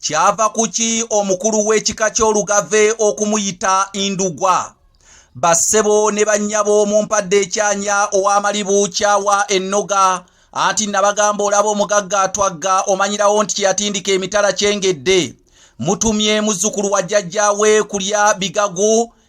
kyava kuki omukulu w'ekika ky'olugave okumuyita indugwa bassebo ne bannyabo mu mpadde ekyanya ow'amalibu kyawa ennoga anti nabagamba olaba omugagga atwagga omanyirawo nti kyeyatindika emitala kyengedde mutumye muzzukulu wa jjajjaawe kulya bigagu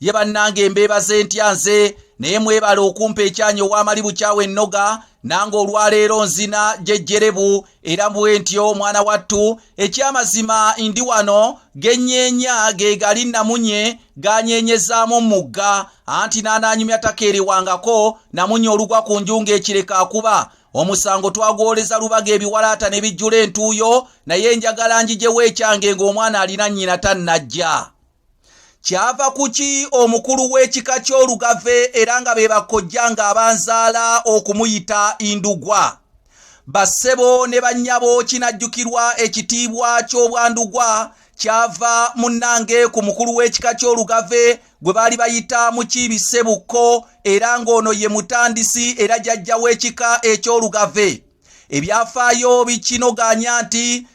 ye bannange mbeebaze ntya nze naye mwebale okumpa ekyanya owamali bukyawo ennoga nange olwaleero nzina gyejjerebu era bwe ntyo omwana wattu ekyamazima ndi wano genyeenya ge gali namunye ganyeenyezaamu mugga anti n'anaanyumya takeerewangako namunye olugwa ku nju ng'ekireka akuba omusango twagwoleza lubaga ebiwalaata ne bijjula entuuyo naye njagala njijewo ekyange ng'omwana alina nnyina tannajja kyava kuki omukulu w'ekika ky'olugave era nga be bakkojja nga abanzaala okumuyita indugwa bassebo ne bannyabo kinajjukirwa ekitiibwa ky'obwandugwa kyava munnange ku mukulu w'ekika ky'olugave gwe baali bayita mukiibi ssebukko era ng'ono ye mutandisi era jajja w'ekika eky'olugave ebyafaayo bikinoganya nti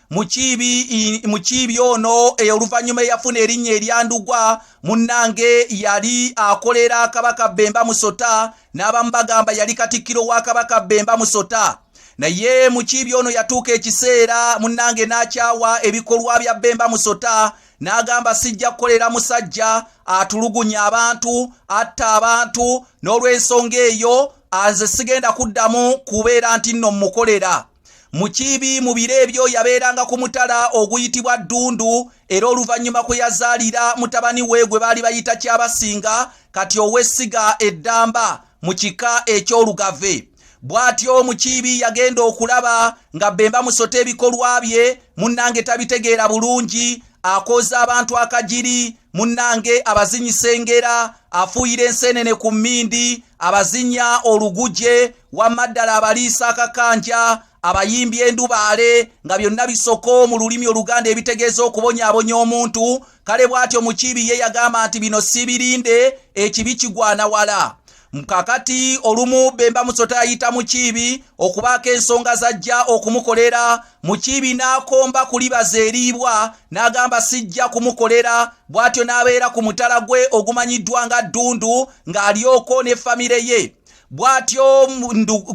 mukiibi ono eh, oluvannyuma eyafuna erinnya eryandugwa munnange yali akolera kabaka bemba musota n'abamu bagamba yali katikkiro wa kabaka bemba musota naye mukiibi ono yatuuka ekiseera munnange n'akyawa ebikolwa bya bemba musota n'agamba sijja kukolera musajja atulugunya abantu atta abantu n'olw'ensonga eyo aze sigenda kuddamu kubeera nti nno mmukolera mu kibi mu biro ebyo yabeeranga ku mutala oguyitibwa ddundu era oluvannyuma kwe yazaalira mutabani we gwe baali bayita kyabasinga kati ow'essiga eddamba mu kika eky'olugave bw'atyo mu kibi yagenda okulaba nga bemba musota ebikolwa bye munnange tabitegeera bulungi akooza abantu akagiri munnange abazinyi sengera afuuyira enseenene ku mmindi abazinya oluguje wamma ddala abaliisa akakanja abayimbi endubaale nga byonna bisoko mu lulimi oluganda ebitegeeza okubonyaabonya omuntu kale bw'atyo mukiibi ye yagamba nti bino sibirinde ekibi kigwana wala kakati olumu bemba musota ayita mukiibi okubaako ensonga zajja okumukolera mukiibi n'akomba kulibaza eriibwa n'agamba sijja kumukolera bw'atyo n'abeera ku mutala gwe ogumanyiddwa nga ddundu ng'alyoko ne famire ye bw'atyo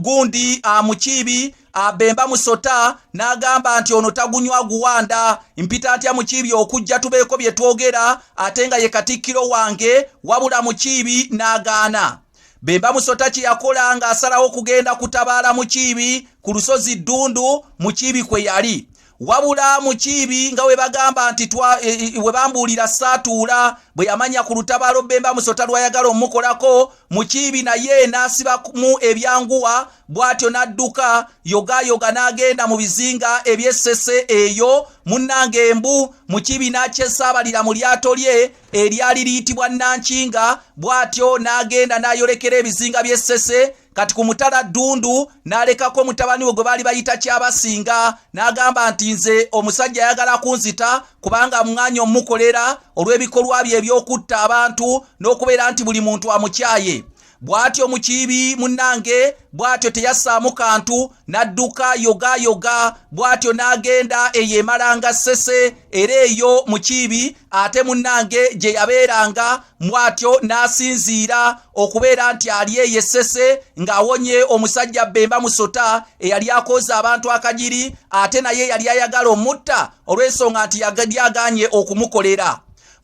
gundi amukiibi abemba musota n'agamba nti ono tagunywa guwanda mpita ntya mukiibi okujja tubeeko bye twogera ate nga ye katikkiro wange wabula mukiibi n'agaana bemba musota kye yakola ng'asalawo okugenda kutabaala mukiibi ku lusozi ddundu mukiibi kwe yali wabula mukiibi nga webagamba nti e, e, e, webambuulira saatuula bwe yamanya ku lutabaalo bemba musota lwayagala omukolako mukiibi naye n'asibamu ebyanguwa bw'atyo n'adduka yogayoga n'agenda mu bizinga ebyessese eyo munnanga embu mukiibi n'akyesaabalira mu lyato lye eryali liyitibwa nankinga bw'atyo n'agenda n'ayolekera ebizinga by'essese kati ku mutala ddundu n'alekako mutabani we gwe baali bayita kyabasinga n'agamba nti nze omusajja ayagala kunzita kubanga mwanya omukolera olw'ebikolwa bye eby'okutta abantu n'okubeera nti buli muntu amukyaye bw'atyo mukiibi munnange bw'atyo teyassaamu kantu n'adduka yogaayoga bw'atyo n'agenda eyo emalanga ssese era eyo mu kiibi ate munnange gye yabeeranga mw'atyo n'asinziira okubeera nti ali eyo essese ng'awonye omusajja bbemba musota eyali akooza abantu akagiri ate naye yali ayagala omutta olw'ensonga nti yagalyagaanye okumukolera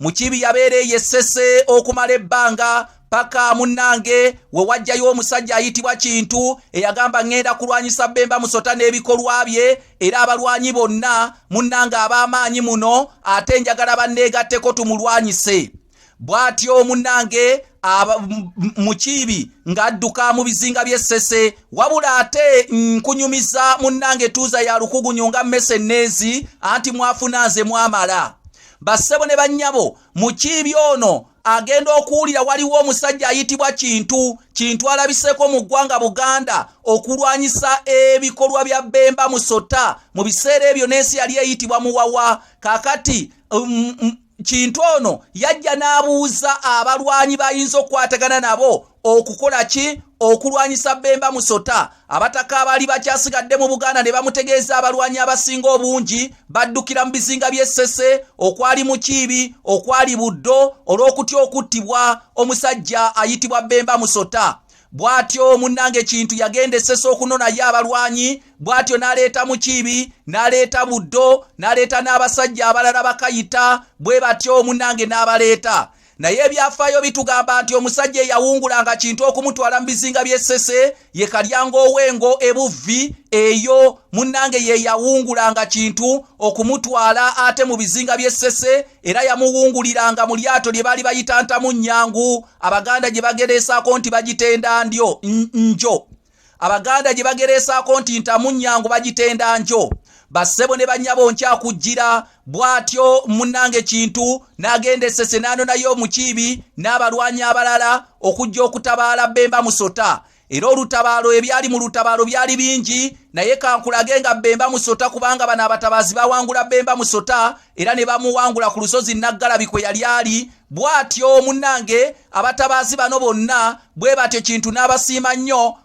mukibi yabeera eyo essese okumala ebbanga paka munnange we wajjayo omusajja ayitibwa kintu eyagamba ŋŋenda kulwanyisa bemba musota n'ebikolwa bye era abalwanyi bonna munnange ab'amaanyi muno ate njagala banneegatteko tumulwanyise bw'atyo omunnange mukiibi ng'adduka mu bizinga by'essese wabula ate nkunyumiza munnange tuuza ya lukugunyu nga mmese nneezi anti mwafuna nze mwamala bassebo ne bannyabo mukiibi ono agenda okuwulira waliwo omusajja ayitibwa kintu kintu alabiseeko mu ggwanga buganda okulwanyisa ebikolwa bya bemba musota mu biseera ebyo n'ensi yali eyitibwa muwawa kakati um, um, kintu ono yajja n'abuuza abalwanyi bayinza okukwatagana nabo okukola ki okulwanyisa bemba musota abataka abaali bakyasigadde mu buganda ne bamutegeeza abalwanyi abasinga obungi baddukira mu bizinga by'essese okwali mukiibi okwali buddo olw'okutya okuttibwa omusajja ayitibwa bemba musota bw'atyo munnange kintu yagenda essese okunonayo abalwanyi bw'atyo n'aleeta mukiibi n'aleeta buddo n'aleeta n'abasajja abalala bakayita bwe batyo munnange n'abaleeta naye ebyafaayo bitugamba nti omusajja eyawungulanga kintu okumutwala mu bizinga by'essese ye kalyanga ow'engo ebuvvi eyo munnange ye yawungulanga kintu okumutwala ate mu bizinga by'essese era yamuwunguliranga mu lyato lye baali bayita ntamu nnyangu abaganda gye bagereesaako nti bagitenda ndyo njo abaganda gye bagereesaako nti ntamunnyangu bagitenda njo bassebo ne bannyabo nkyakujjira bw'atyo munnange kintu n'agenda essese n'anonayo omukiibi n'abalwanyi abalala okujja okutabaala bemba musota era olutabaalo ebyali mu lutabaalo byali bingi naye kankulage nga bemba musota kubanga bano abatabaazi bawangula bemba musota era ne bamuwangula ku lusozi naggalabi kwe yali ali bw'atyo munnange abatabaazi bano bonna bwe batyo kintu n'abasiima nnyo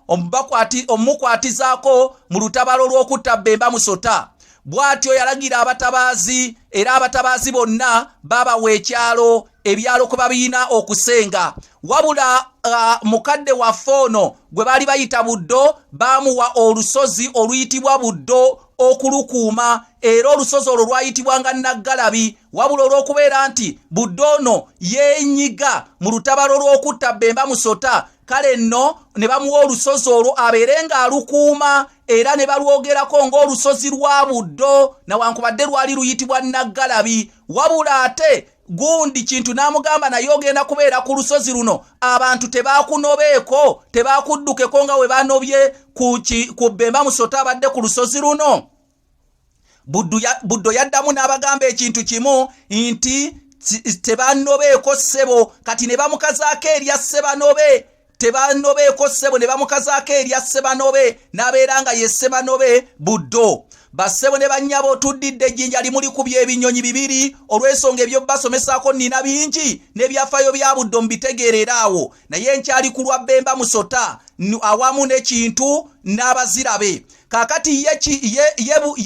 omumukwatizaako mu lutabalo lw'okutta bemba musota bw'atyo yalagira abatabaazi era abatabaazi bonna baabawa ekyalo ebyalo kwe babiyina okusenga wabula uh, mukadde waffe ono gwe baali bayita buddo baamuwa olusozi oluyitibwa buddo okulukuuma era olusozi olwo lwayitibwanga naggalabi wabula olw'okubeera nti budde ono yeenyiga mu lutabalo lw'okutta bemba musota kale nno ne bamuwa olusozi olwo abeere ng'alukuuma era ne balwogerako ng'olusozi lwa buddo nawankubadde lwali luyitibwa naggalabi wabula ate gundi kintu n'amugamba naye ogenda kubeera ku lusozi luno abantu tebakunobeeko tebakuddukeko nga we banobye ku bemba musoto abadde ku lusozi luno buddo yaddamu n'abagamba ekintu kimu nti tebanobeeko ssebo kati ne bamukazaako erya ssebanobe tebanobeeko ssebo ne bamukazaako erya sebanobe n'abeera nga ye sebanobe buddo bassebo ne bannyabo tuddidde ejjinja limuli ku by'ebinyonyi bibiri olw'ensonga ebyobasomesaako nnina bingi n'ebyafaayo bya buddo mbitegeerera awo naye nkyali ku lwa bemba musota awamu n'ekintu n'abazirabe kakati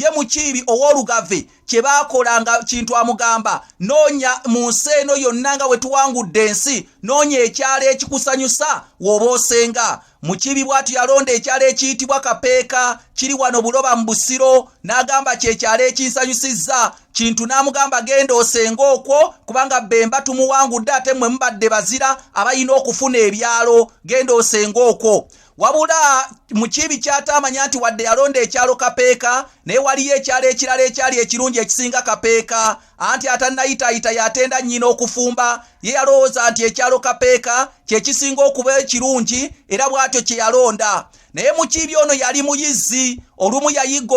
ye mukiibi ow'olugave kye baakola nga kintu amugamba noonya mu nsi eno yonna nga bwe tuwangudde ensi noonya ekyalo ekikusanyusa w'oba osenga mu kibi bw'atyo yalonda ekyalo ekiyitibwa kapeeka kiri wano buloba mu busiro n'agamba kye kyalo ekinsanyusizza kintu n'amugamba genda osenga okwo kubanga bemba tumuwangudde ate mmwe mubadde bazira abalina okufuna ebyalo genda osenga okwo wabula mukiibi kyataamanya nti wadde yalonda ekyalo kapeeka naye waliyo ekyalo ekirala ekyali ekirungi ekisinga kapeeka anti atannayitaayita yatenda nnyina okufumba ye yalowooza nti ekyalo kapeeka kye kisinga okuba ekirungi era bw'atyo kye yalonda naye mukiibi ono yali muyizzi olumu yayigga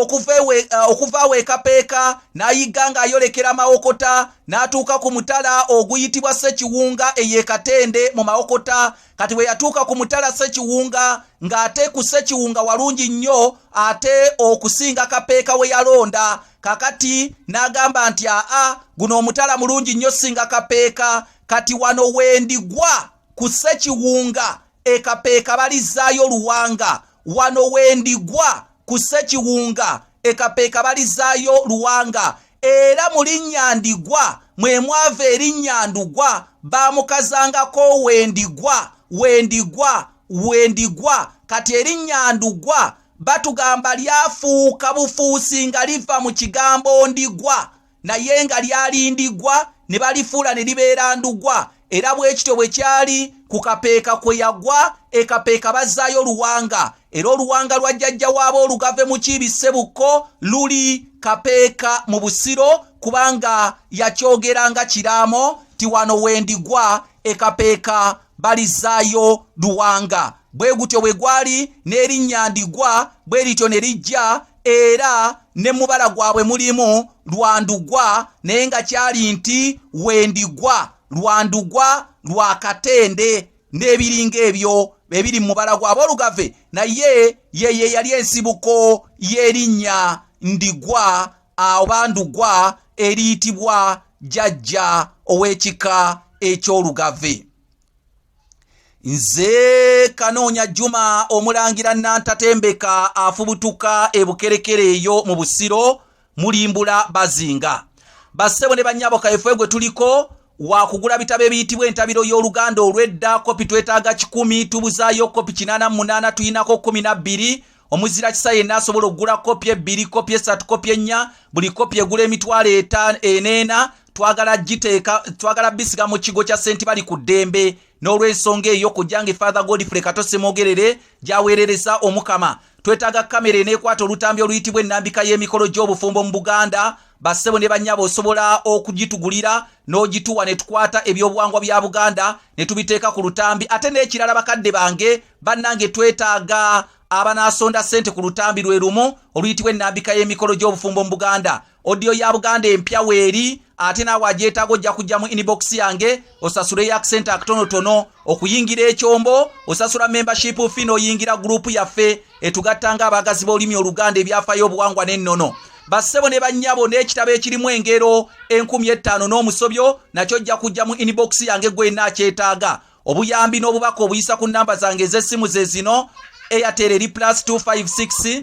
okuva awo ekapeeka n'ayigga ng'ayolekera mawokota n'atuuka ku mutala oguyitibwa ssekiwunga ey'ekatende mu mawokota kati bwe yatuuka ku mutala sekiwunga ng'ate ku sekiwunga walungi nnyo ate okusinga kapeeka we yalonda kakati n'agamba nti aa guno omutala mulungi nnyo singa kapeeka kati wano wendigwa ku sekiwunga ekapeeka balizzaayo luwanga wano wendigwa ku ssekiwunga ekapeeka balizaayo luwanga era mu linnya ndigwa mwe mwava erinnya ndugwa baamukazangako wendigwa wendigwa wendigwa kati erinnya ndugwa batugamba lyafuuka bufuusi nga liva mu kigambo ndigwa naye nga lyali ndigwa ne balifuula ne libeera ndugwa era bwe kityo bwe kyali ku kapeeka kwe yagwa ekapeeka bazzaayo oluwanga era oluwanga lwa jjajja waaba olugave mu kiibi ssebukko luli kapeeka mu busiro kubanga yakyogera nga kiraamo ti wano wendigwa ekapeeka balizzaayo luwanga bwe gutyo bwe gwali n'erinnya ndigwa bwe lityo ne lijja era ne mubala gwabwe mulimu lwandugwa naye nga kyali nti wendigwa lwandugwa lwa katende n'ebiringa ebyo bebiri mu mubala gwabwe olugave naye yeye yali ensibuko y'erinnya ndigwa oba ndugwa eriyitibwa jajja ow'ekika eky'olugave nze kanoonya juma omulangira nantatembeka afubutuka ebukerekere eyo mu busiro mulimbula bazinga bassebo ne bannyabo kaefwe gwe tuliko wakugula bitabo ebiyitibwa entabiro y'oluganda olw'edda kopi twetaaga kikumi tubuzaayo kopi kinana munaana tuyinako kumi nabbiri omuzira kisa yenna asobola okugula kopi ebbiri kopi esatu kopi ennya buli kopi egula emitwalo eneena twagala giteeka twagala bisiga mu kigo kya senti bali ku ddembe n'olw'ensonga eyo kujjange father godfrey kato semogerere gyaweerereza omukama twetaaga kamera eneekwata olutambi oluyitibwa ennambika y'emikolo gy'obufumbo mu buganda bassebo ne bannyabo osobola okugitugulira n'ogituwa ne tukwata ebyobuwangwa bya buganda ne tubiteeka ku lutambi ate n'ekirala bakadde bange bannange twetaaga abanaasonda ssente ku lutambi lwe lumu oluyitibwa ennambika y'emikolo gy'obufumbo mu buganda Audio ya Buganda empya weeri ate naawe agyetaaga ojja kujja mu inbox yange osasule ya kusente akatonotono okuyingira ekyombo osasula membership fi n'oyingira gurupu yaffe etugatta nga abaagazi b'olulimi oluganda ebyafayo obuwangwa n'ennono bassebo ne bannyabo n'ekitabo ekirimu engero enkumi ettaano n'omusobyo nakyo ojja kujja mu inbox yange gwenna akyetaaga obuyambi n'obubaka obuyisa ku nnamba zange ez'essimu ze zino airtel eri plus 256